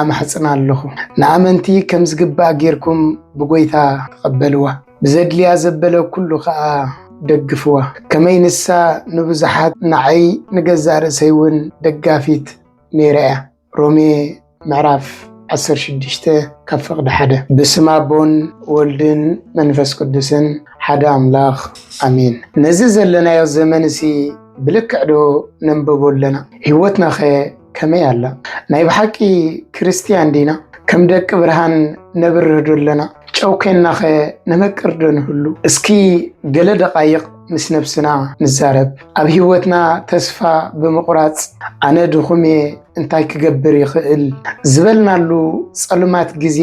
ኣማሕጽና ኣለኹ። ንኣመንቲ ከም ዝግባእ ጌርኩም ብጐይታ ተቐበልዋ፣ ብዘድልያ ዘበለ ኵሉ ኸኣ ደግፍዋ፣ ከመይ ንሳ ንብዙሓት ንዓይ ንገዛእ ርእሰይ እውን ደጋፊት ነይራ እያ። ሮሜ ምዕራፍ ዓሰርተ ሽዱሽተ ካብ ፍቕዲ ሓደ ብስም ኣቦን ወልድን መንፈስ ቅዱስን ሓደ ኣምላኽ ኣሜን። ነዚ ዘለናዮ ዘመን እዚ ብልክዕ ዶ ነንብቦ ኣለና? ህይወትናኸ ከመይ ኣላ? ናይ ብሓቂ ክርስትያን ዲና? ከም ደቂ ብርሃን ነብርህ ዶ ኣለና? ጨው ኴንናኸ ነመቅር ዶ ንህሉ? እስኪ ገለ ደቓይቕ ምስ ነብስና ንዛረብ። ኣብ ህይወትና ተስፋ ብምቑራጽ ኣነ ድኹም እየ እንታይ ክገብር ይኽእል ዝበልናሉ ጸልማት ግዜ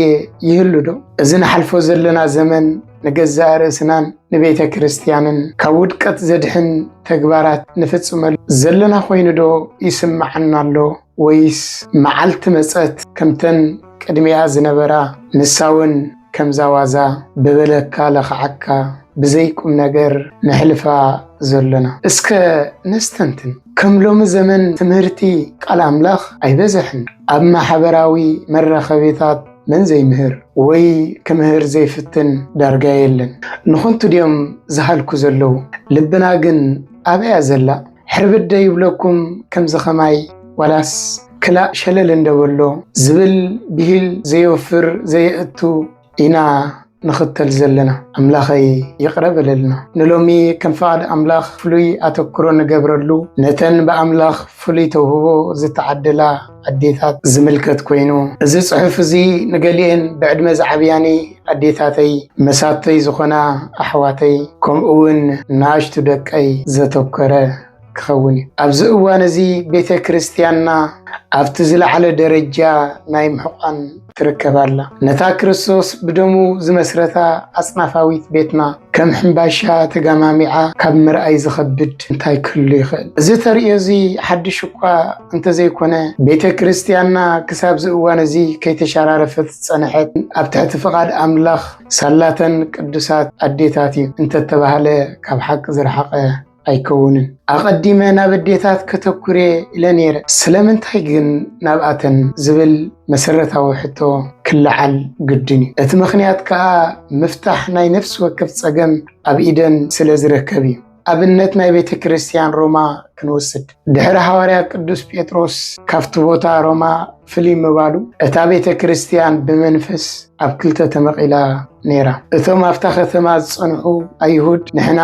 ይህሉ ዶ? እዚ ንሓልፎ ዘለና ዘመን ንገዛእ ርእስናን ንቤተ ክርስቲያንን ካብ ውድቀት ዘድሕን ተግባራት ንፍጽመሉ ዘለና ኮይኑ ዶ ይስምዓና ኣሎ ወይስ መዓልቲ መጸት ከምተን ቅድሚኣ ዝነበራ ንሳውን ከምዛዋዛ ብበለካ ለኽዓካ ብዘይ ቁም ነገር ነሕልፋ ዘሎና እስከ ነስተንትን። ከም ሎሚ ዘመን ትምህርቲ ቃል ኣምላኽ ኣይበዘሕን ኣብ ማሕበራዊ መራኸቢታት መን ዘይምህር ወይ ክምህር ዘይፍትን ዳርጋ የለን። ንኹንቱ ድዮም ዝሃልኩ ዘለዉ ልብና ግን ኣበያ ዘላ ሕርብድ ዶ ይብለኩም ከምዚ ከማይ ዋላስ ክላእ ሸለል እንዶ በሎ ዝብል ብሂል ዘየወፍር ዘየእቱ ኢና። ንኽተል ዘለና ኣምላኸይ ይቕረ በለልና። ንሎሚ ከም ፍቓድ ኣምላኽ ፍሉይ ኣተኩሮ ንገብረሉ ነተን ብኣምላኽ ፍሉይ ተውህቦ ዝተዓደላ ኣዴታት ዝምልከት ኮይኑ እዚ ጽሑፍ እዚ ንገሊኤን ብዕድመ ዝዓብያኒ ኣዴታተይ፣ መሳቶይ ዝኾና ኣሕዋተይ ከምኡውን ንኣሽቱ ደቀይ ዘተኮረ ክኸውን እዩ። ኣብዚ እዋን እዚ ቤተ ክርስቲያንና ኣብቲ ዝለዓለ ደረጃ ናይ ምሕቋን ትርከብ ኣላ። ነታ ክርስቶስ ብደሙ ዝመስረታ ኣጽናፋዊት ቤትና ከም ሕምባሻ ተጋማሚዓ ካብ ምርኣይ ዝኸብድ እንታይ ክህሉ ይኽእል? እዚ ተርእዮ እዚ ሓድሽ እኳ እንተዘይኮነ ቤተ ክርስቲያንና ክሳብዚ እዋን እዚ ከይተሸራረፈት ዝጸንሐት ኣብ ትሕቲ ፍቓድ ኣምላኽ ሳላተን ቅዱሳት ኣዴታት እዩ እንተተባህለ ካብ ሓቂ ዝረሓቐ ኣይከውንን። ኣቐዲመ ናብ ኣዴታት ከተኩር'የ ኢለ ነይረ፣ ስለምንታይ ግን ናብኣተን ዝብል መሰረታዊ ሕቶ ክለዓል ግድን እዩ። እቲ ምኽንያት ከኣ ምፍታሕ ናይ ነፍሲ ወከፍ ጸገም ኣብ ኢደን ስለ ዝርከብ'ዩ። ኣብነት ናይ ቤተ ክርስትያን ሮማ ክንወስድ። ድሕሪ ሃዋርያ ቅዱስ ጴጥሮስ ካብቲ ቦታ ሮማ ፍልይ ምባሉ እታ ቤተ ክርስቲያን ብመንፈስ ኣብ ክልተ ተመቒላ ነይራ። እቶም ኣብታ ከተማ ዝጸንሑ ኣይሁድ ንሕና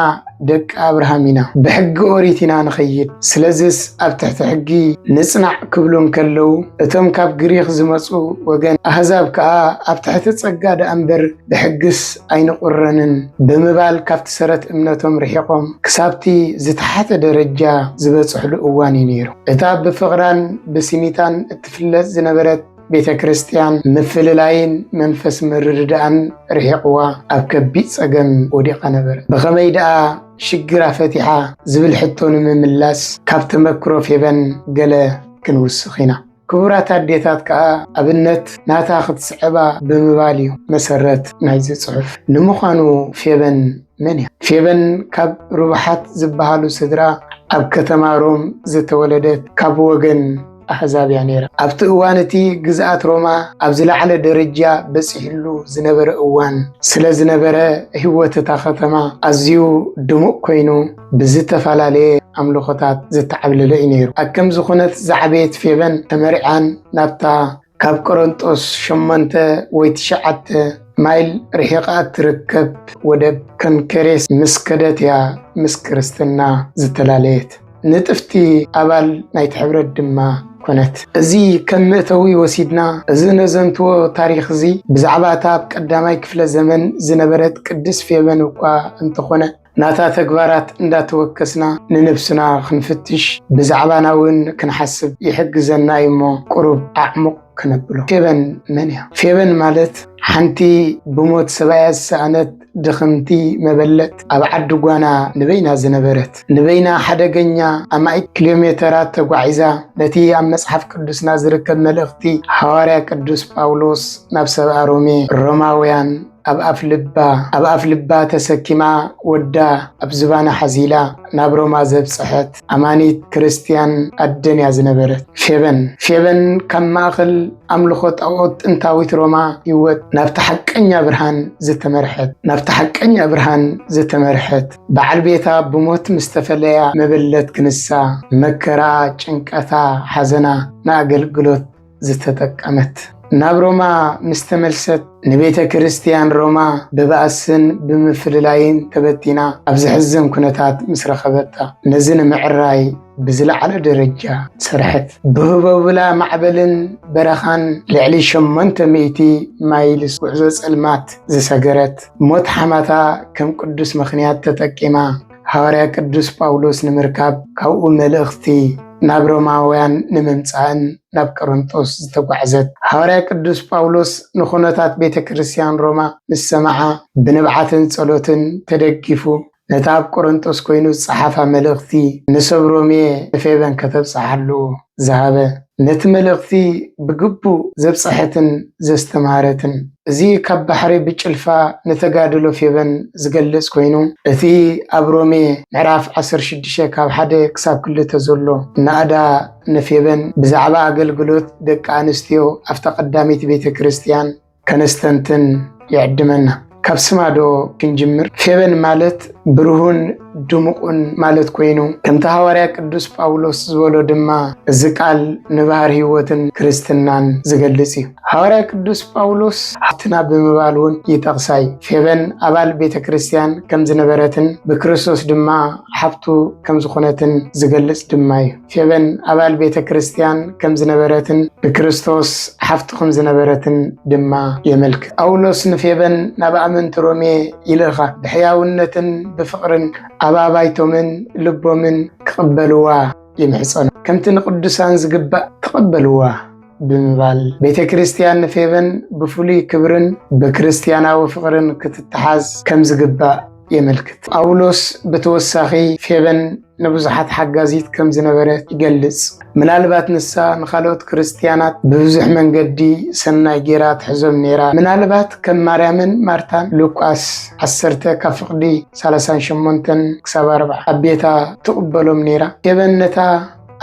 ደቂ ኣብርሃም ኢና፣ ብሕጊ ኦሪት ኢና ንኸይድ፣ ስለዚስ ኣብ ትሕቲ ሕጊ ንጽናዕ ክብሉ እንከለዉ፣ እቶም ካብ ግሪኽ ዝመጹ ወገን ኣህዛብ ከኣ ኣብ ትሕቲ ጸጋ ደኣ እምበር ብሕግስ ኣይንቑረንን ብምባል ካብቲ ሰረት እምነቶም ርሒቖም ክሳብቲ ዝተሓተ ደረጃ ዝበጽሕሉ እዋን እዩ ነይሩ። እታ ብፍቕራን ብስኒታን እትፍለጥ ዝነበረት ቤተ ክርስቲያን ምፍልላይን መንፈስ ምርድዳእን ርሒቕዋ ኣብ ከቢድ ጸገም ወዲቓ ነበረ። ብኸመይ ደኣ ሽግራ ፈቲሓ ዝብል ሕቶ ንምምላስ ካብ ተመክሮ ፌበን ገለ ክንውስኽ ኢና። ክቡራት ኣዴታት ከዓ ኣብነት ናታ ክትስዕባ ብምባል እዩ መሰረት ናይዚ ፅሑፍ። ንምዃኑ ፌበን መን እያ? ፌበን ካብ ርቡሓት ዝበሃሉ ስድራ ኣብ ከተማ ሮም ዝተወለደት ካብ ወገን ኣሕዛብ እያ ነይራ። ኣብቲ እዋን እቲ ግዝኣት ሮማ ኣብ ዝለዓለ ደረጃ በፂሕሉ ዝነበረ እዋን ስለዝነበረ ህይወት እታ ከተማ ኣዝዩ ድሙቕ ኮይኑ፣ ብዝተፈላለየ ኣምልኾታት ዝተዓብለለ እዩ ነይሩ። ኣብ ከምዚ ኩነት ዝዓበየት ፌበን ተመሪዓን ናብታ ካብ ቆረንጦስ ሸሞንተ ወይ ትሽዓተ ማይል ርሒቓ እትርከብ ወደብ ከንከሬስ ምስ ከደት እያ ምስ ክርስትና ዝተላለየት። ንጥፍቲ ኣባል ናይቲ ሕብረት ድማ ኮነት። እዚ ከም መእተዊ ወሲድና እዚ ነዘንትዎ ታሪኽ እዚ ብዛዕባ እታ ኣብ ቀዳማይ ክፍለ ዘመን ዝነበረት ቅድስት ፌበን እኳ እንተኾነ፣ ናታ ተግባራት እንዳተወከስና ንነብስና ክንፍትሽ ብዛዕባና እውን ክንሓስብ ይሕግዘና እዩ እሞ ቁሩብ ኣዕሙቕ ክነብሎ። ፌበን መን እያ? ፌበን ማለት ሓንቲ ብሞት ሰብኣያ ዝሰኣነት ድኽምቲ መበለት ኣብ ዓዲ ጓና ንበይና ዝነበረት ንበይና ሓደገኛ ኣማኢት ኪሎ ሜተራት ተጓዒዛ ነቲ ኣብ መጽሓፍ ቅዱስና ዝርከብ መልእኽቲ ሓዋርያ ቅዱስ ጳውሎስ ናብ ሰብኣ ሮሜ ሮማውያን ኣብ ኣፍ ልባ ኣብ ኣፍ ልባ ተሰኪማ ወዳ ኣብ ዝባና ሓዚላ ናብ ሮማ ዘብጽሐት ኣማኒት ክርስትያን ኣደን እያ ዝነበረት። ፌበን ፌበን ካብ ማእኸል ኣምልኾ ጣኦት ጥንታዊት ሮማ ህይወት ናብቲ ሓቀኛ ብርሃን ዝተመርሐት ናብቲ ሓቀኛ ብርሃን ዝተመርሐት በዓል ቤታ ብሞት ምስ ተፈለያ መበለት ክንሳ መከራ ጭንቀታ ሓዘና ንኣገልግሎት ዝተጠቀመት። ናብ ሮማ ምስ ተመልሰት ንቤተ ክርስቲያን ሮማ ብባእስን ብምፍልላይን ተበቲና ኣብ ዘሕዝን ኩነታት ምስ ረኸበታ ነዚ ንምዕራይ ብዝለዓለ ደረጃ ሰርሐት። ብህቦብላ ማዕበልን በረኻን ልዕሊ 800 ማይልስ ጉዕዞ ጸልማት ዝሰገረት ሞት ሓማታ ከም ቅዱስ ምኽንያት ተጠቂማ ሃዋርያ ቅዱስ ጳውሎስ ንምርካብ ካብኡ መልእኽቲ ናብ ሮማውያን ንምምጻእን ናብ ቀረንጦስ ዝተጓዕዘት ሃዋርያ ቅዱስ ጳውሎስ ንኹነታት ቤተ ክርስቲያን ሮማ ምስ ሰምዓ ብንብዓትን ጸሎትን ተደጊፉ ነታ ኣብ ቆረንጦስ ኮይኑ ዝጸሓፋ መልእኽቲ ንሰብ ሮሜ ንፌበን ከተብጽሓሉ ዝሃበ፣ ነቲ መልእኽቲ ብግቡእ ዘብጸሐትን ዘስተምሃረትን፣ እዚ ካብ ባሕሪ ብጭልፋ ንተጋድሎ ፌበን ዝገልጽ ኮይኑ፣ እቲ ኣብ ሮሜ ምዕራፍ ዓሰርተ ሽዱሽተ ካብ ሓደ ክሳብ ክልተ ዘሎ ናእዳ ንፌበን ብዛዕባ ኣገልግሎት ደቂ ኣንስትዮ ኣብታ ቀዳመይቲ ቤተ ክርስቲያን፣ ከነስተንትን ይዕድመና። ካብ ስማ ዶ ክንጅምር? ፌበን ማለት ብርሁን ድሙቑን ማለት ኮይኑ ከምቲ ሃዋርያ ቅዱስ ጳውሎስ ዝበሎ ድማ እዚ ቃል ንባህር ሕይወትን ክርስትናን ዝገልጽ እዩ። ሃዋርያ ቅዱስ ጳውሎስ ሓፍትና ብምባል እውን ይጠቕሳ እዩ። ፌበን ኣባል ቤተ ክርስቲያን ከም ዝነበረትን ብክርስቶስ ድማ ሓፍቱ ከም ዝኾነትን ዝገልጽ ድማ እዩ። ፌበን ኣባል ቤተ ክርስቲያን ከም ዝነበረትን ንክርስቶስ ሓፍቱ ከም ዝነበረትን ድማ የመልክት። ጳውሎስ ንፌበን ናብ ኣመንቲ ሮሜ ይልእኻ ብሕያውነትን ብፍቕርን ኣብ ኣባይቶምን ልቦምን ክቕበልዋ ይምሕጸኑ። ከምቲ ንቅዱሳን ዝግባእ ተቐበልዋ። ብምባል ቤተ ክርስቲያን ንፌበን ብፍሉይ ክብርን ብክርስቲያናዊ ፍቕርን ክትተሓዝ ከም ዝግባእ የመልክት። ጳውሎስ ብተወሳኺ ፌበን ንብዙሓት ሓጋዚት ከም ዝነበረት ይገልጽ። ምናልባት ንሳ ንኻልኦት ክርስትያናት ብብዙሕ መንገዲ ሰናይ ጌራ ትሕዞም ነይራ። ምናልባት ከም ማርያምን ማርታን ሉቃስ 10 ካብ ፍቕዲ 38 ክሳብ 40 ኣብ ቤታ ትቕበሎም ነይራ። ፌበን ነታ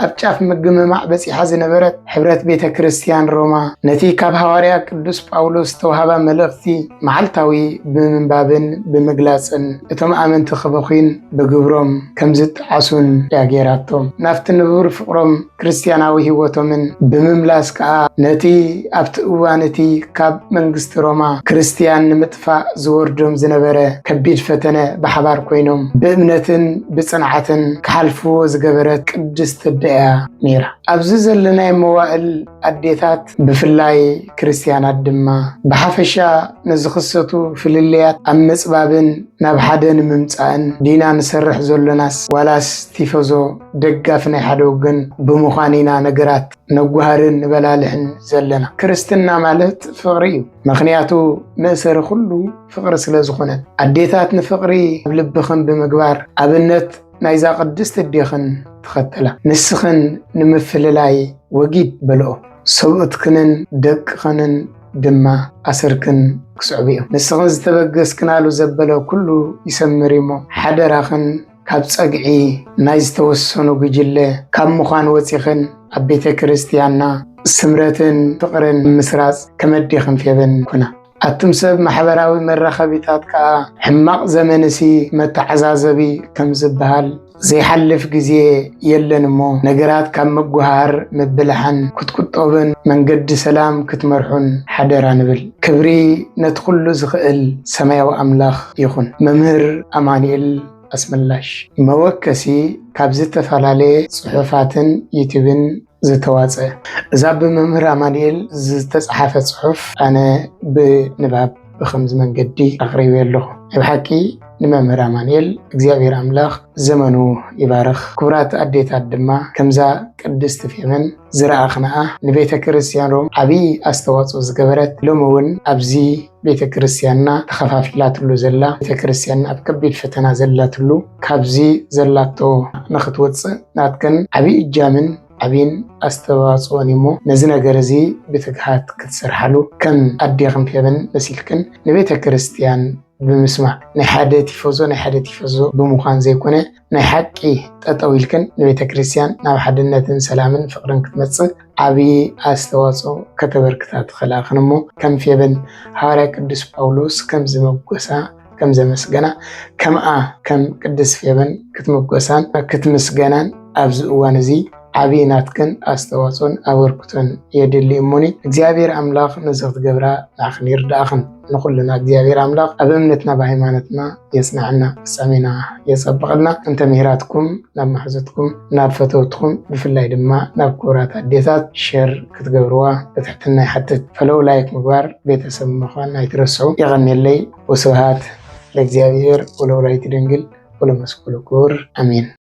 ኣብ ጫፍ ምግምማዕ በጺሓ ዝነበረት ሕብረት ቤተ ክርስቲያን ሮማ ነቲ ካብ ሃዋርያ ቅዱስ ጳውሎስ ዝተውሃባ መልእኽቲ መዓልታዊ ብምንባብን ብምግላጽን እቶም ኣመንቲ ክበኹን ብግብሮም ከም ዝጠዓሱን እያ ገይራቶም። ናብቲ ንቡር ፍቕሮም ክርስትያናዊ ህይወቶምን ብምምላስ ከኣ ነቲ ኣብቲ እዋን እቲ ካብ መንግስቲ ሮማ ክርስትያን ንምጥ ፋእ ዝወርዶም ዝነበረ ከቢድ ፈተነ ብሓባር ኮይኖም ብእምነትን ብጽንዓትን ክሓልፍዎ ዝገበረት ቅድስት ኣደ'ያ ነይራ። ኣብዚ ዘለናዮ መዋእል ኣዴታት ብፍላይ ክርስትያናት ድማ ብሓፈሻ ንዝኽሰቱ ፍልልያት ኣብ ምጽባብን ናብ ሓደ ንምምጻእን ዲና ንሰርሕ ዘሎናስ ዋላስ ቲፈዞ፣ ደጋፊ፣ ናይ ሓደ ወገን ብምዃን ኢና ነገራት ነጓሃርን ንበላልሕን ዘለና ክርስትና ማለት ፍቕሪ እዩ ምክንያቱ መእሰሪ ኩሉ ፍቕሪ ስለ ዝኾነ ኣዴታት ንፍቕሪ ኣብ ልብኽን ብምግባር ኣብነት ናይዛ ቅድስቲ እዴኽን ተኸተላ ንስኽን ንምፍልላይ ወጊድ በልኦ ሰብኡትክንን ደቅኽንን ድማ ኣሰርክን ክስዕቡ እዮም ንስኽን ዝተበገስክናሉ ዘበለ ኩሉ ይሰምር እዩሞ ሓደራኽን ካብ ጸግዒ ናይ ዝተወሰኑ ጉጅለ ካብ ምዃን ወጺኽን ኣብ ቤተ ክርስቲያንና ስምረትን ፍቕርን ምስራጽ ከመዴኽን ፌበን ኩና። ኣቱም ሰብ ማሕበራዊ መራኸቢታት ከኣ ሕማቕ ዘመንሲ መተዓዛዘቢ ከም ዝበሃል ዘይሓልፍ ግዜ የለን እሞ ነገራት ካብ ምጉሃር ምብላሕን ክትቁጠቡን መንገዲ ሰላም ክትመርሑን ሓደራ ንብል። ክብሪ ነቲ ኩሉ ዝኽእል ሰማያዊ ኣምላኽ ይኹን። መምህር ኣማኑኤል ኣስመላሽ መወከሲ ካብ ዝተፈላለየ ጽሑፋትን ዩቱብን ዝተዋጸ። እዛ ብመምህር ኣማኑኤል ዝተጸሓፈት ጽሑፍ ኣነ ብንባብ ብኸምዚ መንገዲ ኣቕሪበያ ኣለኹ። ናይ ብሓቂ ንመምህር ኣማንኤል እግዚኣብሔር ኣምላኽ ዘመኑ ይባርኽ ክቡራት ኣዴታት ድማ ከምዛ ቅድስቲ ፌመን ዝረኣኽንኣ ንቤተ ክርስቲያን ሮም ዓብዪ ኣስተዋፅኦ ዝገበረት ሎሚ እውን ኣብዚ ቤተ ክርስቲያንና ተኸፋፊላትሉ ዘላ ቤተ ክርስቲያን ኣብ ከቢድ ፈተና ዘላትሉ ካብዚ ዘላቶ ንኽትወፅእ ናትክን ዓብዪ እጃምን ዓብይን ኣስተዋፅኦን እሞ ነዚ ነገር እዚ ብትግሃት ክትሰርሓሉ ከም ኣዴኽን ፌበን መሲልክን ንቤተ ክርስቲያን ብምስማዕ ናይ ሓደ ቲፎዞ ናይ ሓደ ቲፈዞ ብምዃን ዘይኮነ ናይ ሓቂ ጠጠው ኢልክን ንቤተ ክርስቲያን ናብ ሓድነትን ሰላምን ፍቅርን ክትመፅእ ዓብዪ ኣስተዋፅኦ ከተበርክታ ትኽእላ እኽን እሞ ከም ፌበን ሃዋርያ ቅዱስ ጳውሎስ ከም ዝመጎሳ ከም ዘመስገና ከምኣ ከም ቅዱስ ፌበን ክትመጎሳን ክትምስገናን ኣብዚ እዋን እዚ ዓብዪ ናትክን ኣስተዋፅኦን ኣበርክቶን የድሊ እሞኒ እግዚኣብሔር ኣምላኽ ነዚ ክትገብራ ንዓኽን ይርዳእኽን ንኹልና እግዚኣብሔር ኣምላኽ ኣብ እምነትና ብሃይማኖትና የፅናዕና ፍፃሜና የፀብቐልና እንተ ምሂራትኩም ናብ ማሕዘትኩም ናብ ፈተውትኩም ብፍላይ ድማ ናብ ክቡራት ኣዴታት ሸር ክትገብርዋ ብትሕትና ይሓትት ፈለው ላይክ ምግባር ቤተሰብ ምዃን ኣይትረስዑ የቐኔለይ ወስብሃት ለእግዚኣብሔር ወለወላዲቱ ድንግል ወለመስቀሉ ክቡር ኣሜን